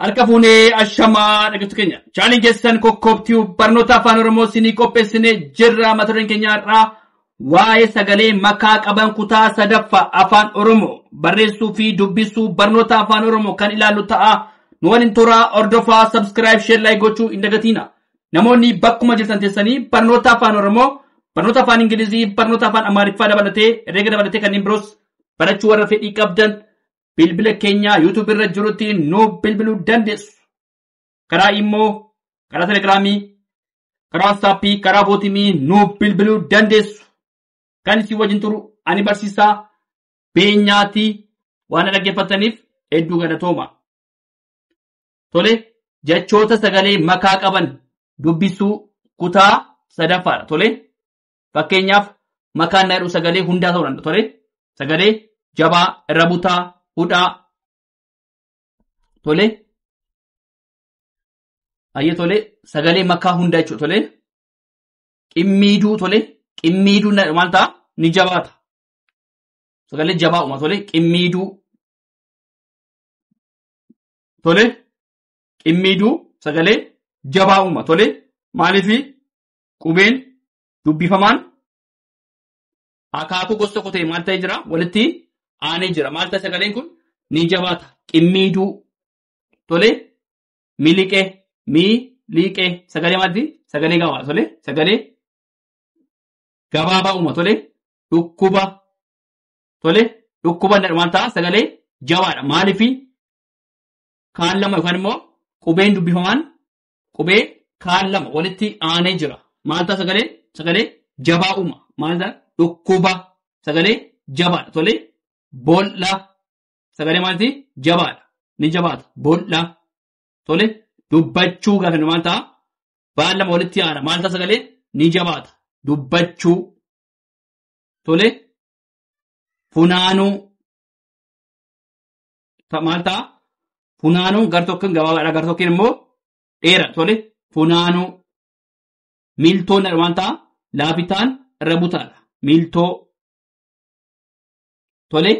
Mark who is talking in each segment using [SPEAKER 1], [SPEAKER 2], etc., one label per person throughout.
[SPEAKER 1] Harka fuunee ashamaa dhaggeeffattoota keenya. Chaanaliin keessan kokkoobtiyu barnoota afaan Oromoo isinii qopheessine jirra mata dureen keenya har'aa waa'ee sagalee makaa qaban kutaa sadaffaa afaan Oromoo barreessuu fi dubbisuu barnoota afaan Oromoo kan ilaallu ta'a. Nu waliin turaa hordofaa subscribe share like gochuu hin dagatiina. Namoonni bakkuma jirtan teessanii barnoota afaan Oromoo barnoota afaan Ingilizii barnoota afaan Amaariffaa dabalatee herreega dabalatee kanneen biroos barachuu warra fedhii qabdan bilbila keenyaa YouTube irra jirutti nu bilbiluu dandeessu. Karaa immoo karaa telegiraamii, karaa waatsaappii, karaa bootimii nu bilbiluu dandeessu. Kan isin wajjin turu ani barsiisaa beenyaatii waan dhaggeeffataniif hedduu galatooma. Tole jechoota sagalee makaa qaban dubbisuu kutaa sadaffaadha. Tole Fakkeenyaaf makaan na jedhu sagalee hundaa ta'uu danda'a tole. Sagalee jabaa, irra butaa, hudhaa tole. Ayyee tole sagalee makaa hundaa jechuudha tole. Qimmiiduu tole. Qimmiiduu na- maal ta'a? Ni jabaata. Sagalee jabaa uuma tole. Qimmiiduu tole. Qimmiiduu sagalee jabaa uuma tole. Maaliifi Qubeen dubbifamaan akaakuu gosa tokko ta'e maal ta'ee jira? Walitti aanee jira. Maal ta'a sagaleen kun? Ni jabaata. Qimmiiduu. Tole. Miliqee. Mii. Liiqee. Sagalee maalti? Sagalee gabaabaa. Tole. Sagalee gabaabaa uuma. Tole. Dhukkuba. Tole. Dhukkuba inni maal ta'a? Sagalee jabaadha. Maaliifi? Kaan lama yookaan immoo qubeen dubbifamaan Qubee kaan lama walitti aanee jira. Maal ta'a sagalee? Sagalee jabaa uuma. Maal ta'a? Dhukkuba. Sagalee jabaadha. Tole boolla. Sagalee maalti? Jabaadha. Ni jabaata. Boolla. Tole dubbachuu gaafa jennu maal ta'a? Baan lama walitti aana. Maal ta'a sagalee? Ni jabaata. Dubbachuu. Tole funaanuu. ta- maal ta'a? Funaanuun gar tokkoon gabaabaadha gar tokkoon immoo dheera tole funaanuu miiltoon waan ta'a laafitaan irra butaadha miiltoo tole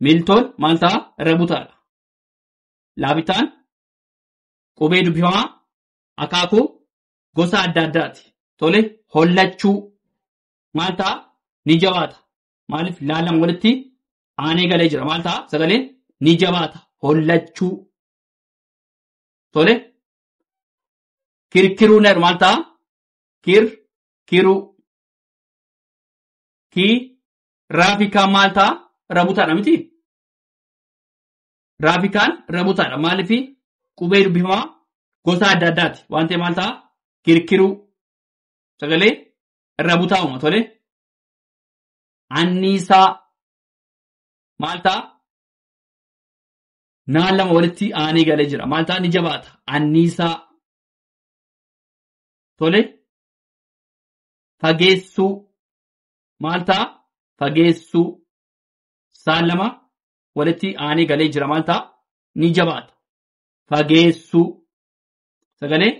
[SPEAKER 1] miiltoon maal ta'a irra butaadha laafitaan qubee dubbifamaa akaakuu gosa adda addaati tole hollachuu maal ta'a ni jabaata Maaliif laalan walitti aanee galee jira. Maal ta'a? Sagaleen ni jabaata. Hollachuu. Tole. Kirkiruu ner maal ta'a? Kir kiruu. Ki raafikaan maal ta'a? Rabutaadha miti. Raafikaan rabutaadha. Maaliif qubee dubbifamaa gosa adda addaati. Waan ta'e maal ta'a? Kirkiruu. Sagalee rabutaa uuma tole. anniisaa maal ta'a? Naan lama walitti aanee galee jira. Maal ta'a ni jabaata. Anniisaa tole fageessuu maal ta'a? Fageessuu saan lama walitti aanee galee jira. Maal ta'a? Ni jabaata. Fageessuu sagalee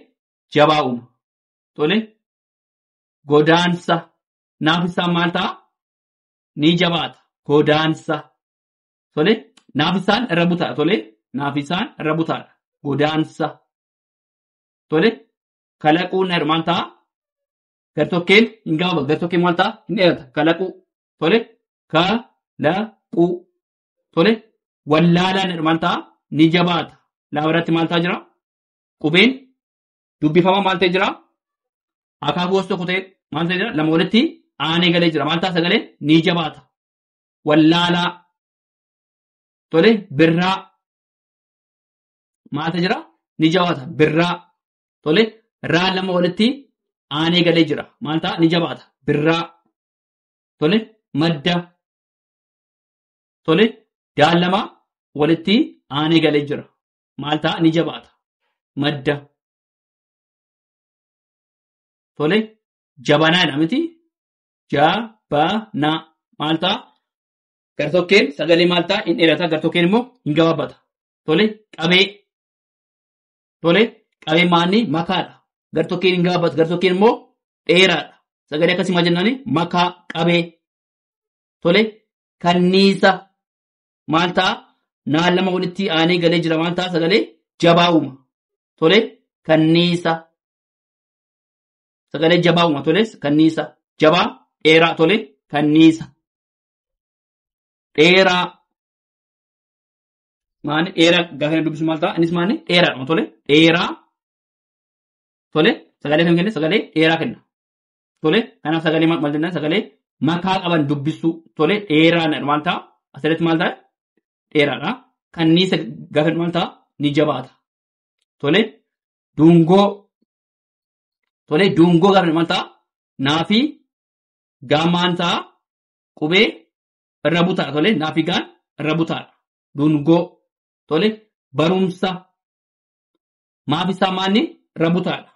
[SPEAKER 1] jabaa uuma. Tole godaansa naafisaan maal ta'a? Ni jabaata. Godaansa. Tole naafisaan irra butaadha. Tole naafisaan irra butaadha. Godaansa. Tole kalaquu na maal ta'a? Gartokkeen hin gabaabatu. Gartokkeen maal ta'a? Hin dheerata. Kalaquu. Tole kalaquu. Tole wallaalaan maal ta'a? Ni jabaata. Laaba irratti maal ta'a jira? Qubeen dubbifama maal ta'e jira? Akaakuu gosa tokko ta'e maal ta'e jira? Lama walitti aanee galee jira. Maal ta'a sagalee? Ni jabaata. Wallaalaa. Tole birraa. Maal ta'e jira? Ni jabaata. Birraa. Tole raa lama walitti aanee galee jira. Maal ta'a? Ni jabaata. Birraa. Tole madda. Tole daal lama walitti aanee galee jira. maal ta'a ni jabaata. Madda. Tole jabanaa jedha miti. Jabanaa maal ta'a? Gartokkeen sagalee maal ta'a? Hin dheerata. Gartokkeen immoo hin gabaabata. Tole qabee. Tole qabee maanni makaadha. Gartokkeen hin gabaabata. Gartokkeen immoo dheeraadha. Sagalee akkasii maal jennaani? Makaa qabee. Tole kanniisa. maal ta'a naan lama walitti aanee galee jira waan ta'a sagalee jabaa uuma tole kanniisa sagalee jabaa uuma tole kanniisa jabaa dheeraa tole kanniisa dheeraa maani dheeraa gaafa inni dubbisu maal ta'a innis maani dheeraadhuma tole dheeraa tole sagalee kan kenne sagalee dheeraa kenna tole kanaaf sagalee maal jenna sagalee makaa qaban dubbisuu tole dheeraa na maal ta'a asirratti maal ta'a dheeraadha kanniisa gaafa maal ta'a ni jabaata tole dungoo tole dungoo gaafa maal ta'a naafi gaamaan ta'a qubee irra butaa tole naafi gaan irra butaadha dungoo tole barumsa maafi isaa maanni irra butaadha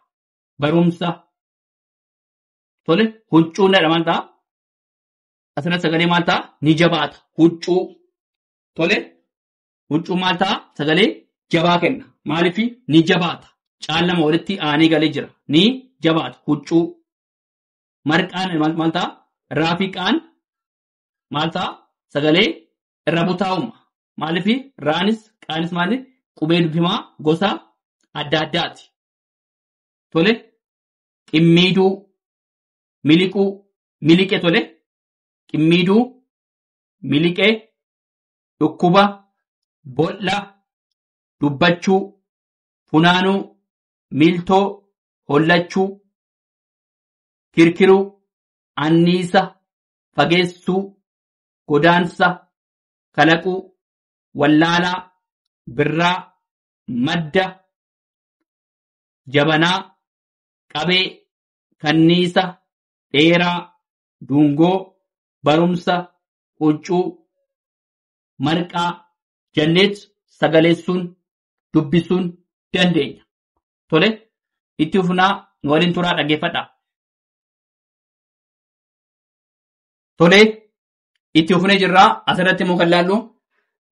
[SPEAKER 1] barumsa Tole huccuu nadha maal ta'a? Asirratti sagalee maal ta'a? Ni jabaata. Huccuu. Tole huccuu maal ta'a? Sagalee jabaa kenna. Maaliif ni jabaata? Caallama walitti aanee galee jira. Ni jabaata. Huccuu. Marqaan maal maal ta'a? Raafiqaan maal ta'a? Sagalee irra butaa'uma. Maaliif raanis qaanis maali? Qubee dubbimaa gosa adda addaati. Tole qimmiiduu miliquu miliqe tole qimmiiduu miliqee dhukkuba bol'a dubbachuu funaanuu miiltoo hollachuu kirkiruu anniisa fageessuu godaansa kalaquu wallaalaa birraa madda jabanaa, qabee, kanniisa, dheeraa, duungoo, barumsa, quuccuu, marqaa, janneet sagaleessuun, dubbisuun dandeenya. Tole, itti fufnaa nu waliin turaa dhaggeeffadhaa. Tole, itti fufnee jirraa asirratti immoo kan laallu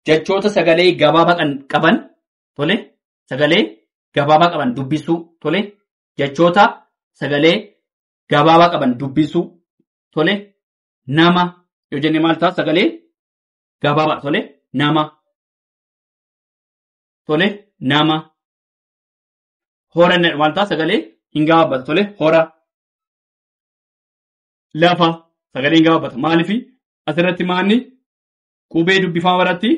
[SPEAKER 1] jechoota sagalee gabaabaa kan qaban tole sagalee gabaabaa qaban dubbisuu tole jechoota sagalee gabaabaa qaban dubbisuu tole nama yoo jenne maal ta'a sagalee gabaabaa tole nama tole nama hora inni jedhu maal ta'a sagalee hin gabaabbatu tole hora lafa sagalee hin gabaabbatu maaliif asirratti maanni Qubee dubbifama biratti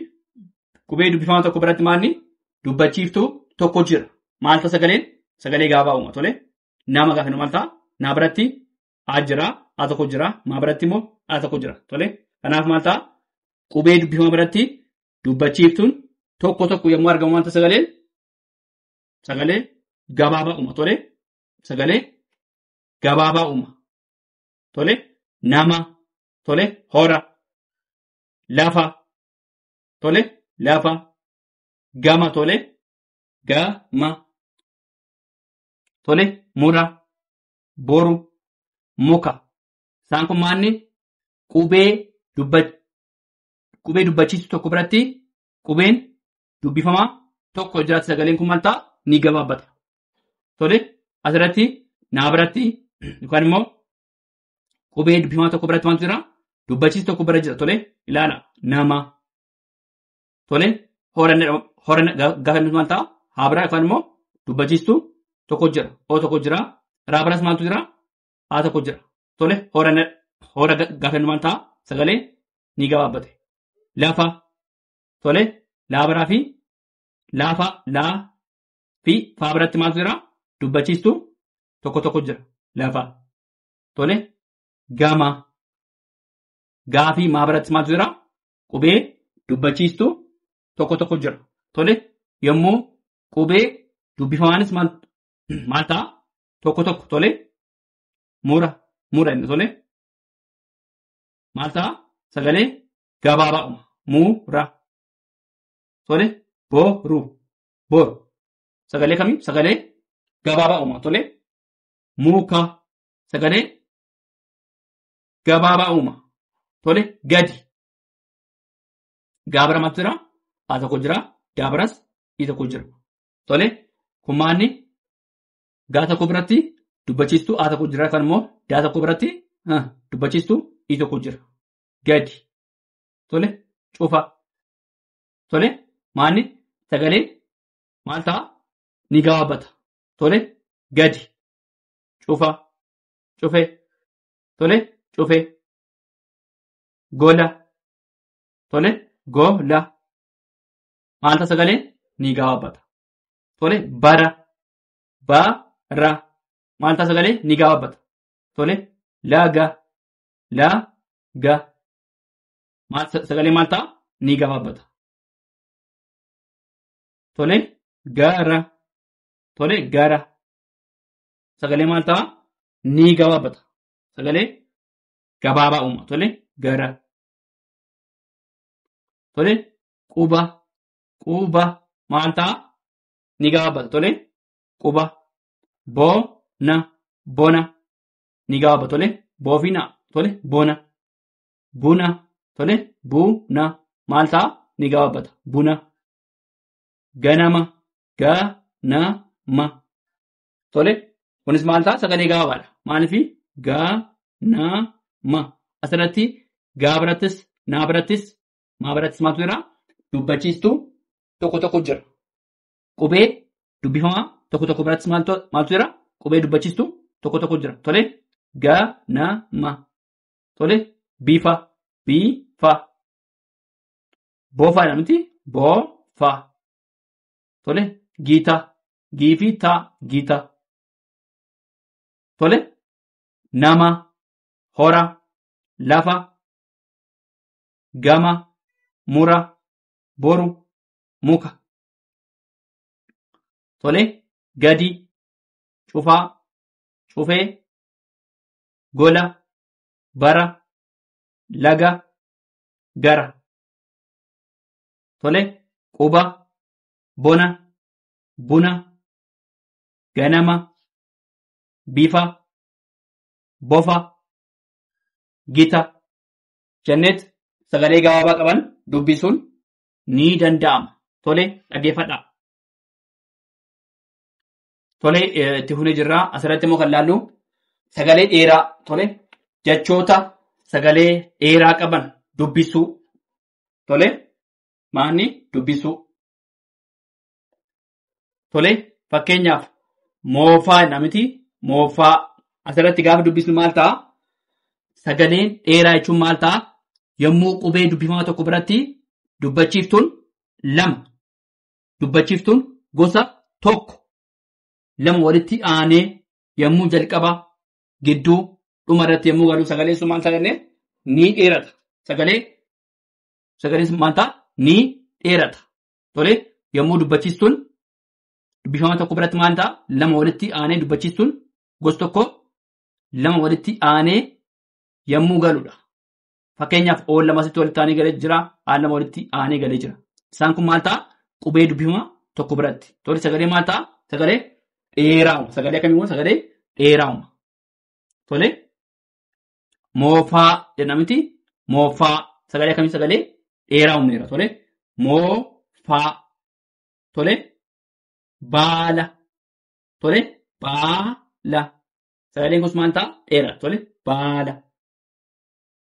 [SPEAKER 1] qubee dubbifama tokko biratti maalni dubbachiiftuu tokko jira. Maal ta'a sagaleen? Sagalee gaabaa uuma tole. Nama gaafa maal ta'a? Naa biratti A jira, A tokko jira, maa biratti immoo A tokko jira tole. Kanaaf maal ta'a? Qubee dubbifama biratti dubbachiiftuun tokko tokko yommuu argamu maal ta'a sagaleen? Sagalee gabaabaa uuma tole. Sagalee gabaabaa uuma tole. Nama tole hora lafa tole lafa gama tole gama tole mura boru muka isaan kun maanni qubee dubba qubee dubbachiisu tokko biratti qubeen dubbifamaa tokko jiraatti sagaleen kun maal ta'a ni gabaabbata tole asirratti naa biratti yookaan immoo Qubee dubbifamaa tokko biratti maaltu jira? Dubbachiis tokko bira jira. Tole ilaala nama. Tole horanna gaafa inni maal ta'a? Haa biraa yookaan immoo dubbachiistu tokko jira. Oo tokko jira. Raa biras maaltu jira? Haa tokko jira. Tole horanna hora gaafa inni maal ta'a? Sagalee ni gabaabbate. Lafa. Tole laabaraa fi laafa laa fi faa biratti maaltu jira? Dubbachiistu tokko tokko jira. Lafa. Tole gama gaafii maa biratti maaltu jira? Qubee dubbachiistu tokko tokko jira. Tole yommuu qubee dubbifamaanis maal maal ta'a? Tokko tokko tole mura mura inni tole maal ta'a? Sagalee gabaabaa uuma. Mura tole boru boru sagalee kamiin sagalee gabaabaa uuma tole muka sagalee gabaabaa uuma. Tole gadi. Gaabara maaltu jira? A tokko jira. Gaabaras I tokko jira. Tole kumaanni gaa tokko biratti dubbachiistuu A tokko jira kan immoo daa tokko biratti ah, dubbachiistuu I tokko jira. Gadi. Tole cufa. Tole maanni sagalee maal ta'a? Ni gabaabata. tole gadi cufa cufe tole cufe gola tole gola maalta sagalee ni gabaabata tole bara bara maalta sagalee ni gabaabata tole laga laga maal sagalee maal ta'a ni gabaabata tole gara tole gara sagalee maal ta'a ni gabaabata sagalee gabaabaa uuma tole gara tole quba quba maal ta'a ni gabaabata tole quba bona bona ni gabaabata tole boofina tole bona buna tole buna maal ta'a ni gabaabata buna ganama Ga, na, ma. Tole, kunis maal ta'a? Sagalee gabaabaadha. Maaliif? Ga, na, ma. Asirratti gaa birattis, naa birattis, maa birattis maaltu jira? Dubbachiistuu tokko tokko jira. Qubee dubbifamaa tokko tokko birattis maaltu maaltu jira? Qubee dubbachiistuu tokko tokko jira. Tole, ga, na, ma. Tole, bifa, bifa. Bofaadha miti? Bofa. Tole giitaa gii fi taa giitaa. Tole nama hora lafa gama mura boru muka. Tole gadi cufaa cufee gola bara laga gara. Tole, quba, bona, buna, ganama, bifa, bofa, gita jenneet sagalee gabaabaa qaban dubbisuun ni danda'ama. Tole, dhaggeeffadhaa. Tole, eh, itti fufnee jirra. Asirratti immoo kan laallu sagalee dheeraa tole jechoota sagalee dheeraa qaban dubbisuu Tole maanni dubbisuu. Tole fakkeenyaaf moofaa jedha miti moofaa asirratti gaafa dubbisnu maal ta'a? Sagaleen dheeraa jechuun maal ta'a? Yommuu qubee dubbifamaa tokko biratti dubbachiiftuun lama dubbachiiftuun gosa tokko lama walitti aanee yommuu jalqaba gidduu dhuma irratti yommuu galu sagalee sun maal ta'a jennee ni dheerata. Sagalee sagalee sun maal ta'a ni dheerata. Tole yommuu dubbachiistuun dubbifama tokko biratti maal ta'a lama walitti aanee dubbachiistuun gosa tokko lama walitti aanee yommuu galudha. Fakkeenyaaf oon lama asitti walitti aanee galee jira, aan lama walitti aanee galee jira. Isaan kun maal ta'a? Qubee dubbifamaa tokko biratti. Tole sagalee maal ta'a? Sagalee dheeraa uuma. Sagalee akkamii uuma? Sagalee dheeraa uuma. Tole moofaa jenna miti moofaa sagalee akkamii sagalee dheeraa uumneera. Tole moofaa tole baala tole baala sagaleen kunis maal ta'a? Dheeraa tole baala.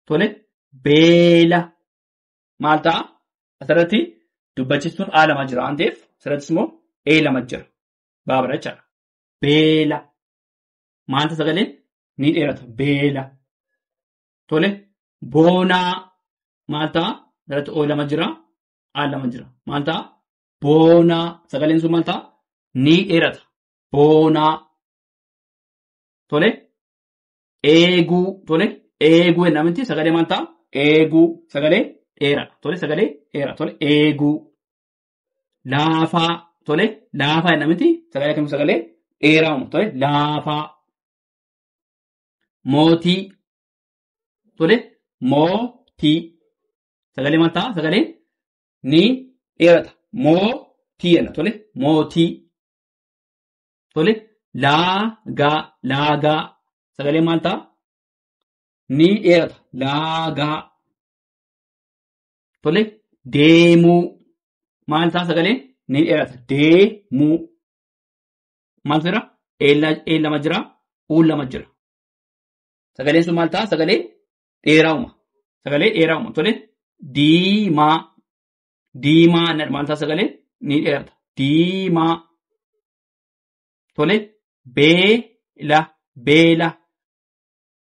[SPEAKER 1] Tole beela maal ta'a? Asirratti dubbachistuun A lama jira waan ta'eef asirrattis immoo A lama jira. Baabara jechaadha. Beela maal ta'a sagaleen ni dheerata beela. Tole boonaa maal ta'a? Asirratti O lama jira A lama jira. Maal ta'a? Boonaa sagaleen sun maal ta'a? Ni dheerata. Boonaa. Tole eeguu tole eeguu ennaa miti sagalee maal ta'a eeguu sagalee dheera tole sagalee dheera tole eeguu laafaa tole laafaa ennaa miti sagalee akkamitti sagalee dheeraa uuma tole laafaa mootii tole mootii sagalee maal ta'a sagalee ni dheerata mootii jenna tole mootii Tole laagaa laagaa sagalee maal ta'a? Ni dheerata laagaa. Tole deemuu maal ta'a sagalee? Ni dheerata deemuu. Maal jira? Een lama jira, uun lama jira. Sagaleen sun maal ta'a? Sagalee dheeraa'uma. Sagalee dheeraa'uma. Tole diimaa Diimaa inni armaan isaa sagalee ni dheerata. Diimaa. Tole. Beela. Beela.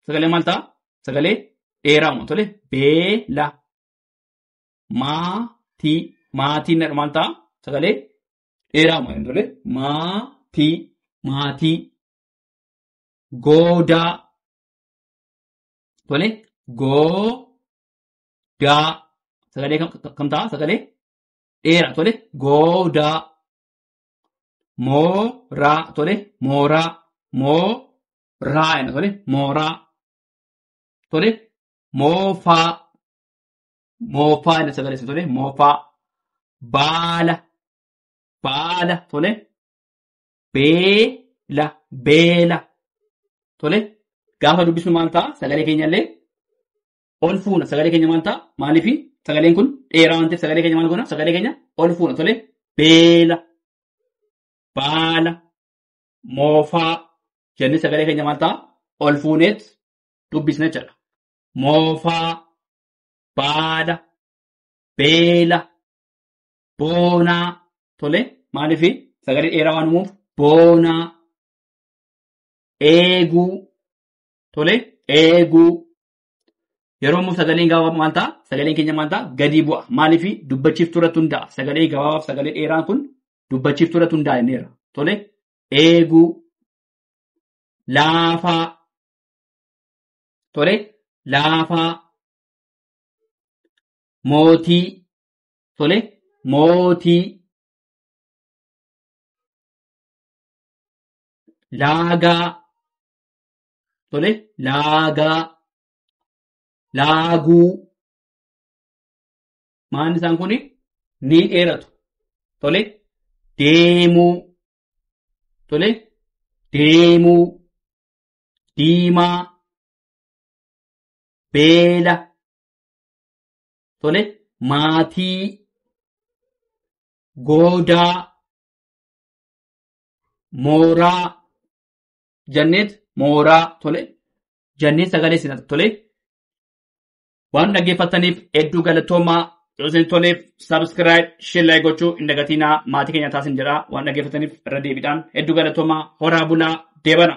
[SPEAKER 1] Sagalee maal ta'a? Sagalee dheeraama. Tole. Beela. Maatii. Maatii inni armaan ta'a? Sagalee dheeraama. Tole. Maatii. Maatii. Goodaa. Tole. Goo. daa sagalee kam kam ta'a sagalee dheera tole goodaa mooraa tole mooraa mooraa jenna tole mooraa tole moofaa moofaa jenna sagalee isa tole moofaa baala baala tole beela beela tole gaafa dubbisnu maal ta'a sagalee keenyallee ol fuuna sagalee keenya maal ta'a maaliif sagaleen kun dheeraa waan ta'eef sagalee keenya maal goona sagalee keenya ol fuuna tole beela baala moofaa jennee sagalee keenya maal ta'a ol fuuneet dubbisna jechuudha moofaa baala beela boonaa tole maaliif sagalee dheeraa waan uumuuf boonaa eeguu tole eeguu Yeroo immoo sagaleen gabaabaa maal ta'a? Sagaleen keenya maal ta'a? Gadi bu'a. Maaliif dubbachiiftuu irratti hundaa'a? Sagalee gabaabaaf sagalee dheeraan kun dubbachiiftuu irratti hundaa'a jenneera. Tole eeguu laafaa tole laafaa mootii tole mootii laagaa Tole laagaa laaguu maanni isaan kun ni dheeratu. Tole deemuu tole deemuu diimaa beela tole maatii goodaa mooraa Janneet mooraa tole. Janneet sagalee sinat tole. Waan dhaggeeffattaniif hedduu galatoomaa yoo isin toleef subscribe shellaa gochuu hin dagatinaa maatii keenya taasin jedha waan dhaggeeffataniif irra deebiidhaan hedduu galatoomaa horaa bulaa deebana.